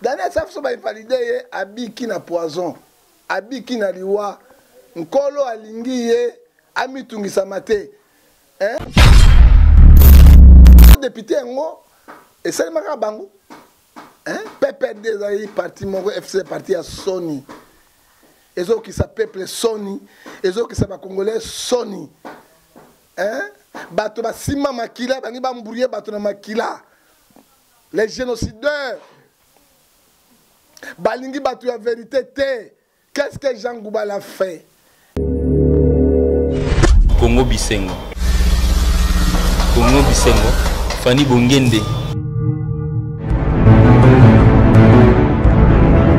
Daniel Safu so ba invalide ye abiki na poison abiki na liwa nkolo alingi ye amitungisama te eh? depute yango esalemaka bango eh? ppd ezali parti moko fc parti ya soni ezokisa peuple soni ezokisa bacongolais soni eh? bato basimba makila bangi bamburie bato na makila les génocideurs balingi bato ya verité te qu'est ce que jean ngoubal a fait kongo bisengo kongo bisengo fani bongende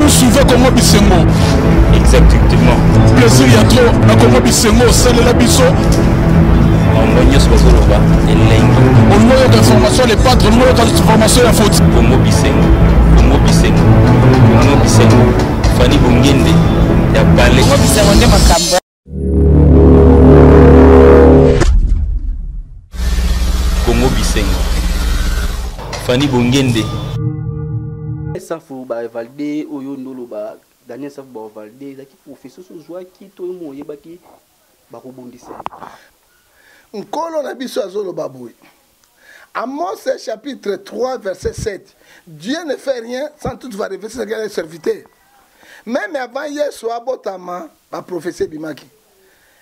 suive kongo bisengo exactement plaisir ya tro na kongo bisengo osalela biso bango nyonso bazoloba elengi olingo oyoka information ya lepatre olingo oyoka information ya foti kongo bisengo kongo bisengo kongo bisengo fani bongende ya bale kongo bisengo nde makambo Congo Bisengo. Fanny Bongende. Safu ba valide oyo ndolo ba Daniel Safu ba valide ezaki professeur so zwaki to mo yebaki bakobundisa. Nkolo na biso azoloba boye. Amos chapitre 3 verset 7. Dieu ne fait rien sans tout va révéler ce qu'il a serviteur. Même avant Yesu abotama ba prophétie bimaki.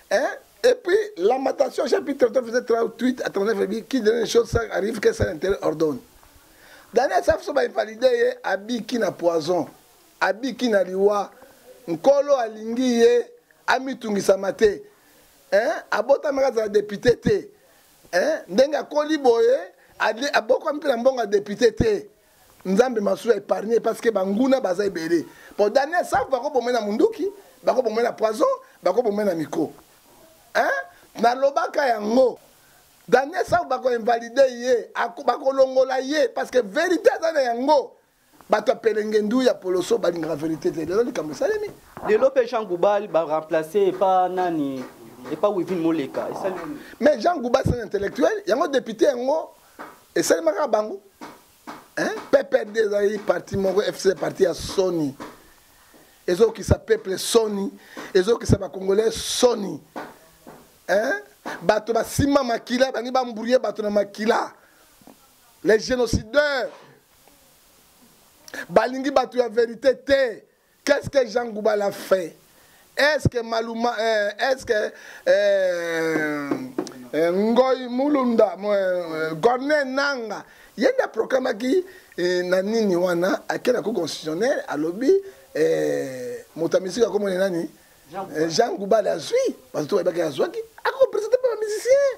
Hein? Et puis Lamentation chapitre 3 verset 38 à 39 dit qui donne les choses ça arrive que ça l'intérêt ordonne. Daniel safu so ba invalidé ye abiki na poison, abiki na liwa, nkolo alingi ye amitungisama te. Hein? Abotamaka za député te. eh, ndenge akoli boye abokwami mpe na mbongo ya depute te nzambe masuwa épargne parce que banguna baza ebele po daniel safu bakobomai na munduki bakobomai na poison bakobomai na miko hein? nalobaka yango daniel safu bakoinvalide ye bakolongola ye parce que verité aza na yango bato ya pelengendu ya poloso balingaka verité te lelo likambo esalemi lelo mpe jean goubal baremplace epa nani epa wivin moleka esali mais jean goubal c'est un intellectuel yango député yango esalemaka bango pprd ezali parti moko fc parti ya soni ezokisa peuple soni ezokisa bacongolais soni bato basima makila bangi bambrouye bato na makila les génocidaires balingi bato ya verite te qu'est ce que jean goubal a fait est ce que maluma euh, est ce que euh, euh, ngoi mulunda euh, gorne nanga ye nde aproklamaki eh, na nini wana ake na cour constitutionnel alobi eh, moto ya misiki akomona nani jean goubal eh, azwi bato to bayebaki azwaki akopresente mpe bamusicien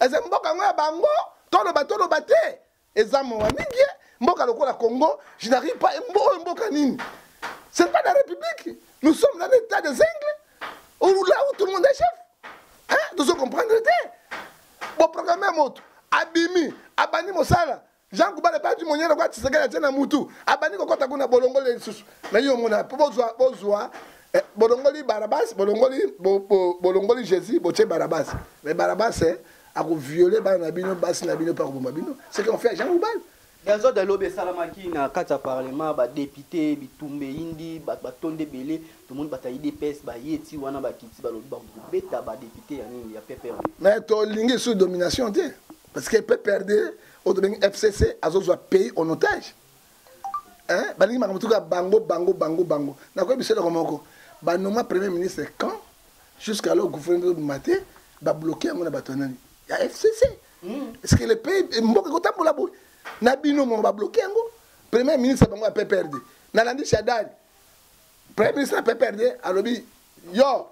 eza mboka yango ya bango toloba toloba te eza mawa mingi ye mboka lokola congo je n'arrive pas oyo mboka nini c'est pas la république nous sommes dans l'état des ingles là où tout le monde est chef hein tozo comprendre te boprograme ya moto abimi abandi mosala jean kubala epai ti monyele kwa tisekeli atie na mutu abandi kokɔta kuna bolongoli lisusu na yo omona mpo bozwa bozwa eh, bolongoli barabas bolongoli bo, bo, bolongoli jésus botie barabas mais barabas eh, akoviole bana na bino basi na bino mpe akoboma bino ce qu'on fait jean kubala bianzode alobi esalamaki na kati ya parlement badepute bitumba eyindi bato batonda ebele tomoni bato ya idps baye ti wana bakiti balobi bakobeta badepute ya nini ya pprd mais tolingi lisusu domination te parce que pprd oyo tobengi fcc azozwa pays en otage hein? balingi makambo tuka bango bango bango bango nakoyebi biso eloko moko banoma premier ministre quand jusqu'à lo gouvernement obima te babloke yango na bato ya nani ya fcc hmm. est ce que le pays mboka ekotambola boye na bino moko babloke yango premier ministre bango ya pprd nalandi shadari premier ministre ya pprd alobi yo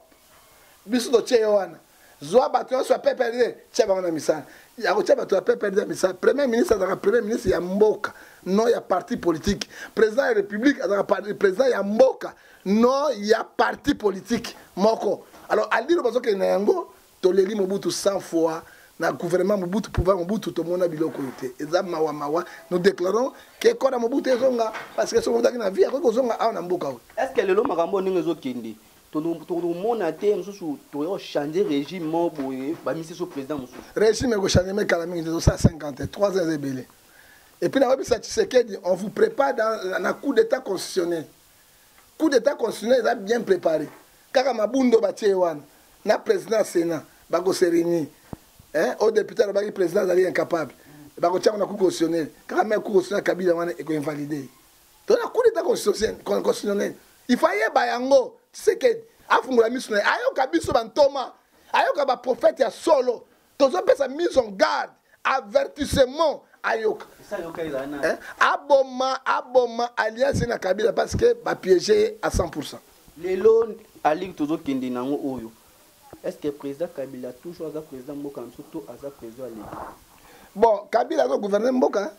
biso totie yo wana zwa bato nyonso ya pprd tia bango na misala ya kotia bato ya pprd ya misala premier ministre azalaka premier ministre ya mboka non ya parti politique président ya république azalaka président ya mboka non ya parti politique moko alors aliro bazokende na yango Toleli Mobutu 100 fois na gouvernement Mobutu pouvoir Mobutu tomona biloko oyo te eza mawa mawa nous déclarons que kora Mobutu ezonga parce que soki ozalaki na vie akoki kozonga awa na mboka oyo est ce que lelo makambo ndenge ezokende tokomona te mosusu toya kochange régime moko boye bamisi so président mosusu régime ekochange me kala mingi tozosala 50 te 3 ans eza ebele epuis nayebisa tshisekedi on vous prépare na coup d'état constitutionnel coup d'etat constitutionnel eza bien prépare kaka mabundo batie wana na président ya sénat bako se réunir eh, oyo député alobaki président azali incapable bakotia kuna coup constitutionnel kaka meme coup constitutionnel kabila wana ekoinvalide to na coup d'etat constitutionnel il faut ayeba yango tisekedi afungola miso na ye ayoka biso bantoma ayoka baprofete ya solo tozopesa mise en garde avertissement ayoka eh? aboma aboma alliance na kabila parce que bapiege ye à 100 pourcent lelo aliki tozokende nango oyo est ce que président kabila toujours aza président mboka na biso to aza président ya leta bon kabila aza gouverne mboka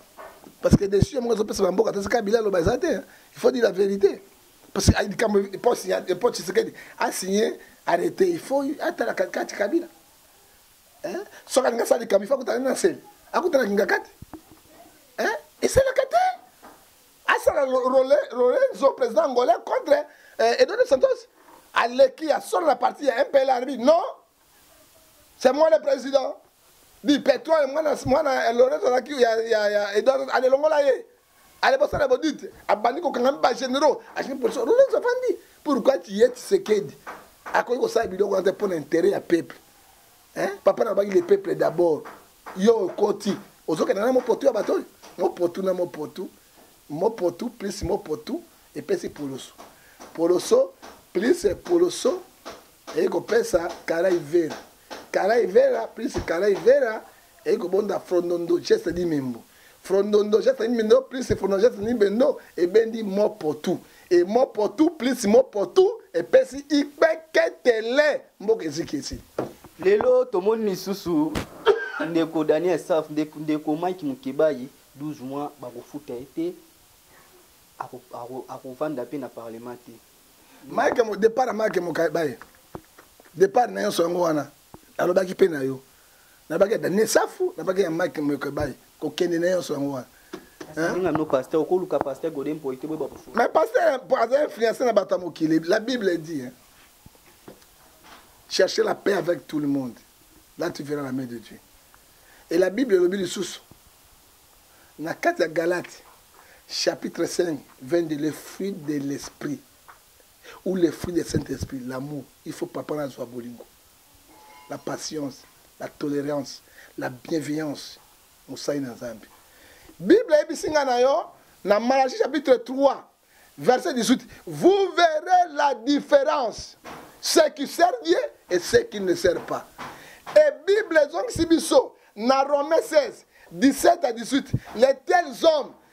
parce que decision moko ezopesa na mboka tasi kabila aloba eza te il faut dire la vérité parce que likambo epoche tshisekedi asigne arrete il faut atalaka kati kabila eh? soki alingi asala likambo ifa kutana na semi akutana kingaka te eh? esalaka te asala lorenzo président angolais contre eh, eduardo santos aleki ya solo na parti ya mpl arbi non c'est moi le président di petro mwana mwana lorenzo alaki ya, ya, ya eduardo alelongola ye ale bosala bodite abandi kokanga mi bagenero alingi polisi rolons avandi pourkui tiye tisekedi akoki kosala biloko wana te mpo na intere ya peuple papa na baki le peuple d'abord yo okoti ozokenda na mopotu ya bato oyo mopotu na mopotu mopotu plus mopotu epesi poloso poloso plus poloso eye kopesa kara ivera kara ivera plus kara ivera eye kobonda frondondo geste di membo frondondo jeste ni bendo plus frondondo jeste ni bendo ebendi mopotu e mopotu plus mopotu epesi ikpeketele mboka eziki esi lelo tomoni lisusu ndeko daniel saf ndeko mike mokebayi 12 mois bakofuta ye te akovanda mpe na parlement te mike depart ya mike mokebayi depart na nyonso yango wana nalobaki mpe na yo nalobaki ya daniel safu nalobaki ya mike mokebai kokende na nyonso yango wana mais pasteur aza influence na bato ya mokili la bible dit hein? chercher la paix avec tout le monde là tu verras la main de dieu et la bible elobi lisusu na kati ya galate chapitre 5 22 le fruit de l'esprit ou les fruits de saint esprit l'amour il faut papa na azwa bolingo la patience la tolerance la bienveillance mosali na nzambe bible ayebisi ngai na yo na malachi chapitre 3 verset 18 vous verrez la différence ceux qui servent dieu et ceux qui ne servent pas et bible ezongisi biso na romain 16 17 à 18 les tels hommes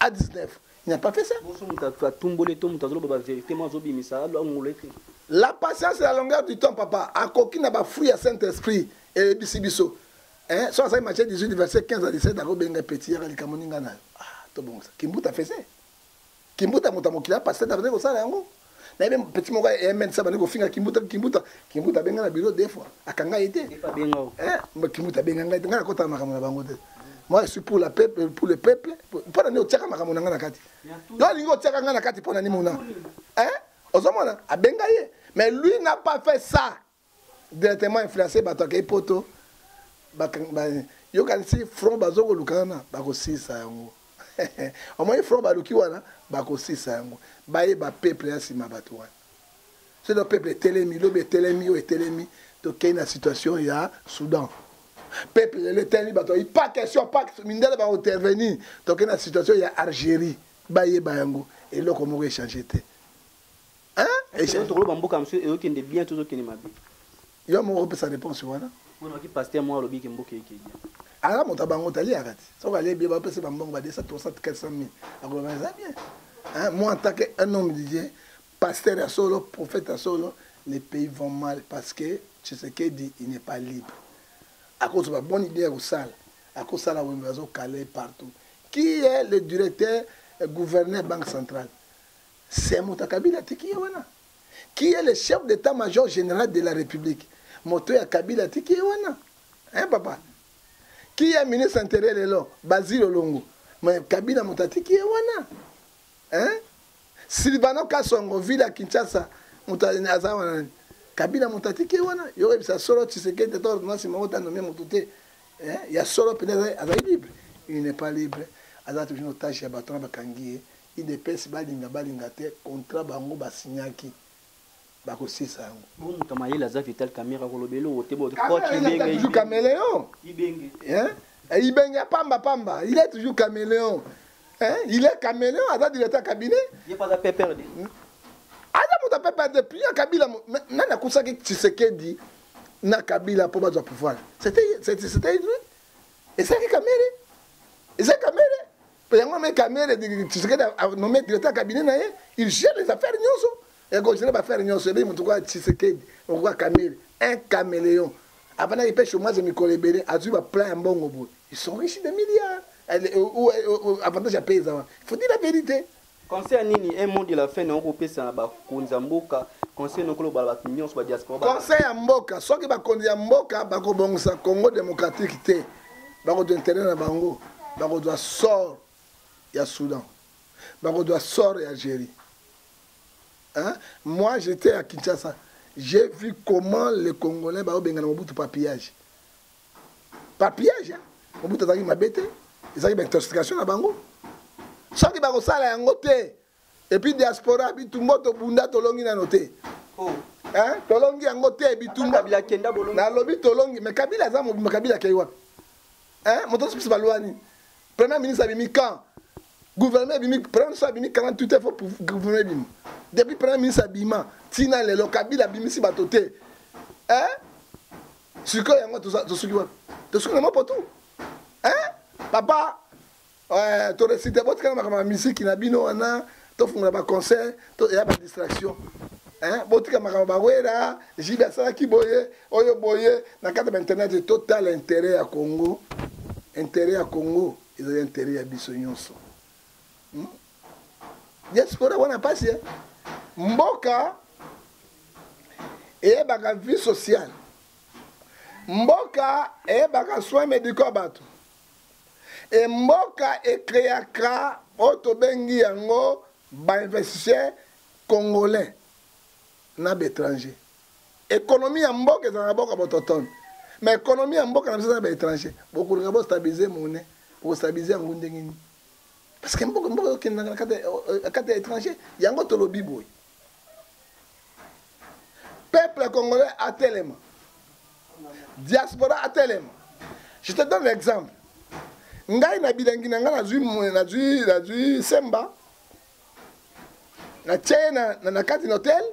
a 19 il n'a pas fait ça bonso moto atumboli to moto azoloba baverité mo azobimisa alongola ete la patience la longueur du temps papa akoki na bafruit ya saint esprit eyebisi biso eh, so azali matie 18 verset 15 a 17 akobenga peti yaka likambo ninga nayo ah, tobongisa kimbuta fese kimbuta moto ya mokili ya pasteur avandi kosala yango na ye petit moko ya mn sa bandi kofinga kimbuta kimbuta kimbuta abenga na bilo deux fois akanga ye te eh, kimbuta abenga ngai te ngai nakotala makambo na bango te moi je suis pour la peuple pour le peuple mpo na nini otiaka makambo na ngai na kati yo alingi otiaka ngai na kati mpo na nini mona ozomona abenga ye mais lui n'a pas fait ça directement influence bato akei poto yokanisi front bazokoluka wana bakosisa yango omoni front baluki wana bakosisa yango bayeba peuple ya nsima bato wana soki peuple etelemi lobi etelemi oyo etelemi tokei na situation ya soudan peuple lelo etelemi bato bayi pas question pas mindele baointervenir tokei na situation ya algérie bayeba yango eloko moko echange te Hein? Ese tokoloba mboka mosusu eyokende bien to ezokende mabe. Yo moko opesa réponse wana. Wana ki pasteur mwa alobi ke mboka eke bien. Ala moto bango tali akati. Soki ale bien ba pesa ba mbongo ba 200 300 400 000. Akoloba eza bien. Hein? Moi en tant que un homme de Dieu, pasteur ya solo, prophète ya solo, les pays vont mal parce que Tshisekedi il n'est pas libre. Akozo ba bonne idée ya kosala. Akosala wembe azo caler partout. Qui est le directeur euh, gouverneur banque centrale? C'est moto ya kabila atiki ye wana qui est le chef d'état major général de la république moto ya kabila atiki ye wana hein papa qui est ministre intérieur lelo bazili olongo mais kabila moto atiki ye wana hein silvano kasongo ville ya kinshasa moto aza wana nani kabila moto atiki ye wana yo oyebisa solo tshisekedi ata ordonnance moko tanome moto te ya solo mpenza azali libre il n'est pas libre aza toujours otage ya bato wana bakangi ye Udps balinga balinga te contrat bango ba signaki bako silisa yango. Bongo moto ya mayele aza Vital Kamerhe akoloba eloko te bote coach Ibenge. Toujours cameleon. Ibenge. Hein? Eh, Ibenge ya pamba pamba. Il est toujours cameleon. Hein? Il est cameleon aza directeur cabinet. Ye pas PPRD. Hmm? Aza moto PPRD puis ya Kabila nani akusaki Tshisekedi na Kabila mpo bazwa pouvoir. C'était c'était lui. Ezalaki Kamerhe. Ezalaki Kamerhe. yango me kamere tshisekedi anome directeur cabinet na ye il gère les affaires nyonso ekogere baaffaire nyonso ebeyi motu kaka tshisekedi okoka kamere un caméléon avandaki mpe chomage mikolo ebele azwi baplan ya mbongo boye ils sont riche de milliards avantage ya pays eza wana faut dire la vérité Concert nini un mot de la fin na oko pesa na ba konza mboka conseil na koloba bato nyonso ba diaspora conseil ya mboka soki bakonzi ya mboka bakobongisa congo démocratique te bakozwa intérêt na bango bakozwa sort ya soudan bakozwa sort ya algérie hein? moi j'étais à kinshasa j'ai vu comment les congolais baobengana mobutu papillage ba piège hein. mobutu azalaki mabe te ezalaki baintoxication na bango soki bakosala yango te epuis diaspora bitumbo tobunda tolongi nano te oh. hein? tolongi yango te bitumba nalobi tolongi mais kabila aza mobima kabila akei wapi hein? moto azopesa balwa nini premier ministre abimi quand gouvernement ebimi premier ministre abimi 48 heures fo gouvernement ebima depuis premier ministre abima ntina lelo kabila abimisi bato te hein? sikoyo yango tosuki wapi tosuki na mapoto hein papa euh, toresite botikana makambo ya miziki na bino wana tofungola baconcert ya badistraction botika makambo bawera jibe asalaki boye oyo boye na kati ya internet totala intere ya congo intere ya congo ezali intere ya biso nyonso hmm? diaspora wana pasi eh? mboka eyebaka vie sociale mboka eyebaka soin médicaux ya bato e mboka ekreaka oyo tobengi yango bainvestisseur congolais na baétranger économie ya mboka ezala na boka bototone ma économie ya mboka na biso eza na baétranger bokolinga bostabilise mone bokostabilise yango ndenge nini parce que mboka mboka okendaka na kati euh, ya étranger yango tolobi boye peuple congolais atelema diaspora atelema je te donne l'exemple ngai na bilangi na ngai nazwi nazwi nazwi semba natie ye na, na, na kati na hotel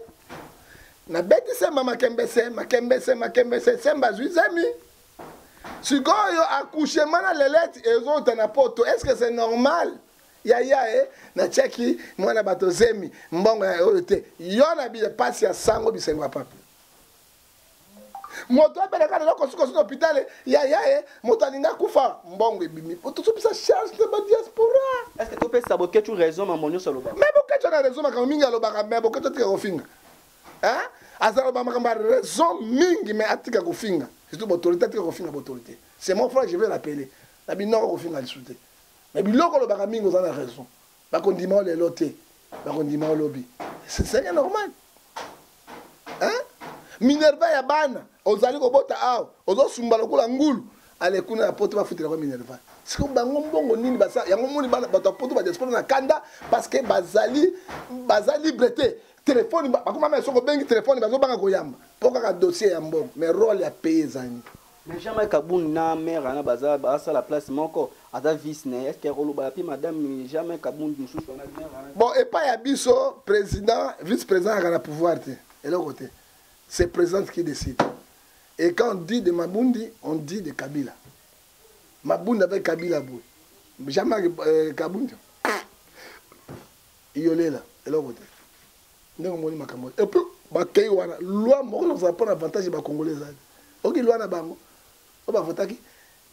nabeti semba makembese makembese makembese semba azwi zemi sikoyo accouchement na lelete ezouta na poto est ce que c'est normal yaya e natiaki mwana bato zemi mbongo ya oyo te yo na bile mpasi ya sango bisengo ya papi moto abelaka lelo kosikosi na hopitale yaya e moto alinga kufa mbongo ebimi tosopesa charge na badiaspora est ce que topesa bokecu raison mambo nyonso alobaka me bokecu na raison makambo mingi alobaka me bokecu atika kofinga hein azalo ba makambo raison mingi mais atika kofinga surtout bautorité atika kofinga bautorité c'est mon frère je vais l'appeler na binoko kofinga lisusu te mais biloko olobaka mingi oza na raison bakondima o lelo te bakondima o lobi c'est normal hein minerva ya bana ozali kobota awa ozosumba lokola ngulu ale kuna ya poto bafutelaka minerva sikoyo bango mbongo nini basa yango moni bato ya poto badiaspora na kanda parce que bazali baza libre te telefoni bakoma mai soki obengi telefoni bazobanga koyamba mpo kaka dossier ya mbongo mais role ya paye ezangi mais jamais kabund na mare wana baza basala place moko aza vice na ye eske akolobala mpe madame jamais kabund mosusu wana bon epai ya biso président vice président ayaka na pouvoir te eloko te c'est présidente qui décide et quand on dit de mabundi on dit de kabila mabundi avec kabila boye jamais euh, kabund Iyo lela eloko te ndenge omoni makambo et puis bakei wana loi moko nakozala mpo na avantage ya bacongolais ezali oki loi na bango oyo bavotaki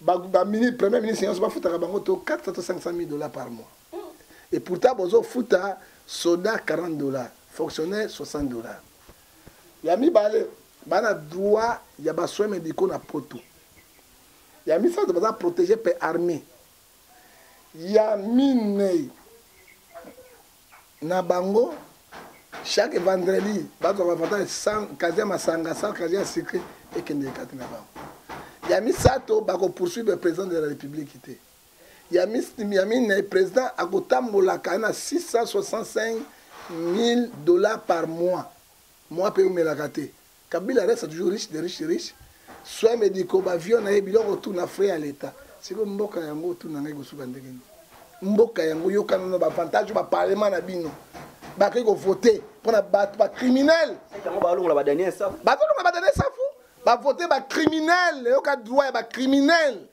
bamini premier ministre nyonso bafutaka bango to 400 to 500 000 dollars par mois mm. et pourtant bozofuta soda 40 dollars fonctionnaire 60 dollars ya mibale bana droit ya basoin médicaux na poto ya misato baza protégé mpe armée Ya minei na bango chaque vendredi bazwaka avantage ya 100 kazi ya masanga 100 kazi ya sucre ekendeke kati na bango ya misato bakopoursuivre président de la république te ya minei président akotambolaka na 665 000 dollars par mois mois mpe eumelaka te Kabila reste toujours riche de riche riche soins medicaux ba avion na ye biloko tout na frais ya l'etat siko mboka yango tout na ngai kosuka ndenge nini mboka yango yokana na bavantage ba parlement na bino bakoki kovote mpo na bato bacriminel bazolongola badanie safu bavote bacriminel eyoka droit ya bacriminel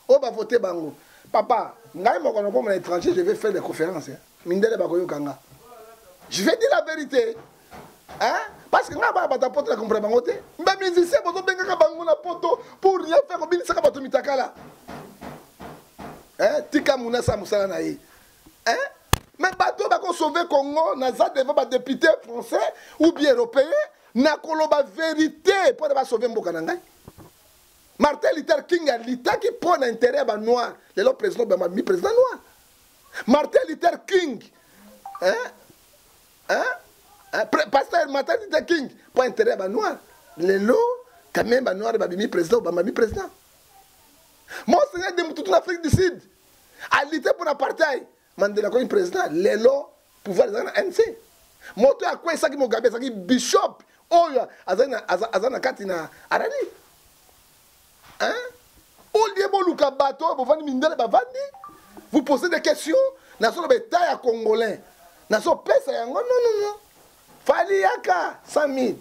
oyo ba vote bango papa ngai moko na komona étranger je vais faire des conférences hein? mindele bakoyoka nga je vais dire la vérité hein? parce que ngai bana bato ya poto na comprendre bango te ba musicien bozobengaka bango na poto pour rien faire kobinisaka bato mitakala hein? tika munasa mosala na ye hein? mais bato oyo bakosauve congo naza devant badepute français ou bien européen nakoloba vérité mpo na basauve mboka na ngai Martin Luther King a litaki mpo na intérêt ya ba noir lelo président Obama mi président noir Martin Luther King hein? Hein? Hein? pasteur Martin Luther King mpo intérêt ya ba noir lelo quand même ba noir babimi président Obama mi président monseigneur de mututu na Afrique du Sud a lite mpo na apartheid Mandela akomi president lelo pouvoir ezalaki na MC. Moto ya akwesaki Mugabe azalaki bishop oyo azali na aza na kati na Arabie. Hein? Au lieu boluka bato oyo bovandi mindele bavandi, vous posez des questions nasoloba etat ya congolais nasopesa yango non non non fali yaka 100 000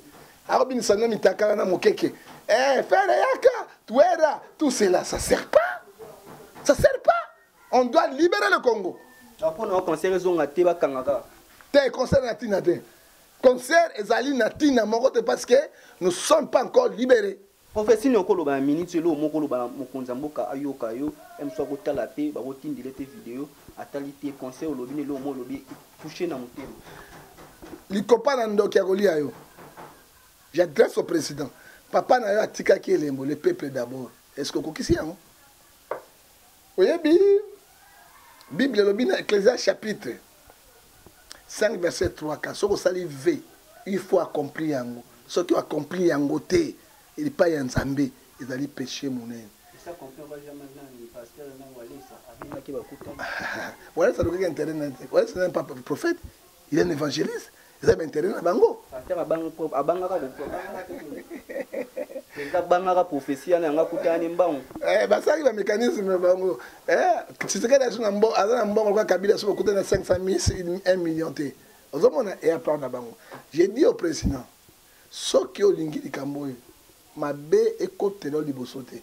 akobinisa no mitakala na mokeke eh, fere yaka tuera tout cela ça sert pas ça sert pas On doit libérer le Congo. Bakona wa concert ezonga te bakanga kaka. Te concert na tina te. Concert ezali na tina moko te parce que nous sommes pas encore libérés. Prophétie ni okoloba na minute elo moko loba mokonzi ya mboka ayoka yo emso akotala te bakotindile te video atali te conseil olobi na elo mo olobi touche na motema likopa na ndoki ya kolia yo j'adresse au président papa na yo atikaki elembo le peuple d'abord est ce que okokisi yango oyebi bible elobi na ecclesia chapitre 5 verset 3 ka soki osali v il faut accomplir yango soki oaccomplir yango te epai ya nzambe ezali péché monene walesa alukaki internet walesa nani papa prophète il est un évangéliste eza ba intérêt na bango pasteur abanga ko abanga ka ko eza banga ka prophétie yana yanga kutani mbangu eh basali ba mécanisme bango eh tshisekedi azo na mbo aza na mbongo kwa kabila so kutani na 500 000 1 million te ozo mona et à part na bango j'ai dit au président soki olingi likambo oyo mabe ekotela yo liboso te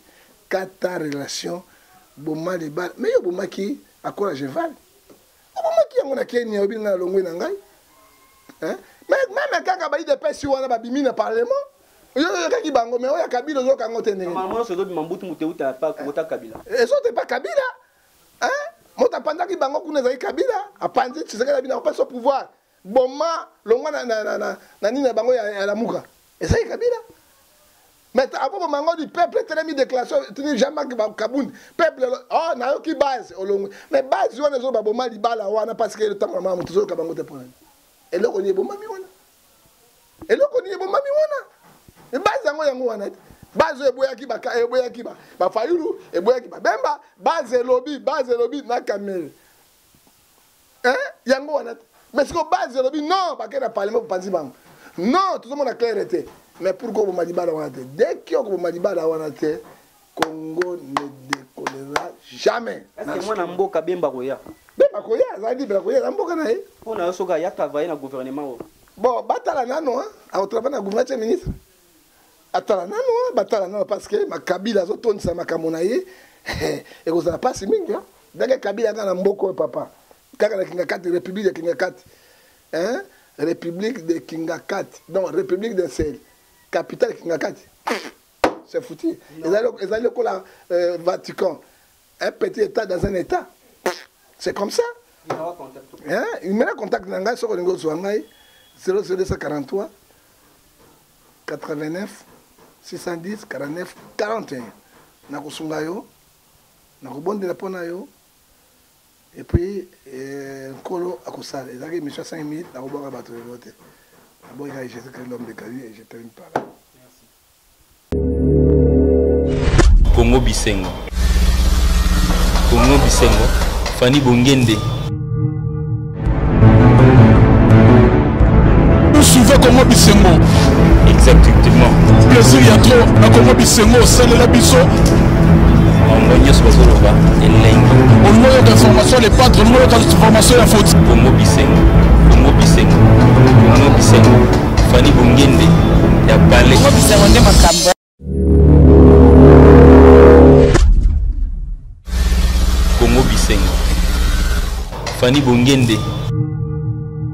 kata relation boma libala me yo obomaki akola jeval nabomaki yango na kenya oyebi ngai nalongwe na ngai meme kaka ba idps wana babimi na parlement oyokaki bango me oya kabila ozoyoka yango te ndengeezobima mbutu moto euta pa kota kabila ezote pa kabila moto apanzaki bango kuna ezali kabila apanzi tshisekedi abina kopesa pouvoir boma longwa na, na, na, na, na nini na bango ya, ya lamuka ezali kabila mais akoboma yango du peuple etelemi déclaration tini jean marc kabund peuple o oh, nayoki base olongwe mais base wana ezoba boma libala wana parce que etambola mama moto ezoyoka bango te mpo nani eloko nini ebomami wana eloko nini ebomami wana base yango yango wana te base oyo eboyaki eboyaki bafayulu eboyaki babemba base elobi base elobi na kamere eh, yango wana te mais siko base olobi non bakei na parlement bopanzi bango non tozomona claire te mais pourkoi oboma libala wana te dès ki okoboma libala wana te congo ne décollera jamais mwana mboka bemba koya bemba koya azali libre ya koya na mboka na ye mpo na yo soki aya travaille na gouvernement oyo bon batala nano akotravaille na gouvernement tie ministre atala nano batala nano parce que makabila azotondisa makambo na ye ekozala mpasi mingi ndenge kabila kaka na mboka oyo papa kaka na kingakati république ya kingakati hein? république de kingakati donc république de sel capitale kingakati c'est foutu ezali lokola euh, vatican un petit état dans un état c'est comme ça numero contact na ngai soki olingi ozwa ngai 00243 89 610 49 41 nakosunga yo nakobondela mpo na yo epuis eh, nkolo akosala ezalaki émission 5 minutes nakobwaka bato lelo te naboyi ngai jésus christ l'homme de galie et je termine par là Congo Bisengo. Congo Bisengo. Fanny Bongende. Vous suivez Congo Bisengo. Exactement. Plaisir ya trop na Congo Bisengo osalela biso. bango nyonso bazoloba elengi olingo yoka information le patre olingo yoka information ya foti kongo bisengo kongo bisengo kongo bisengo Fanny Bongende ya Palais. Ngo bisengo nde makambo. Kongo Bisengo. Fanny Bongende.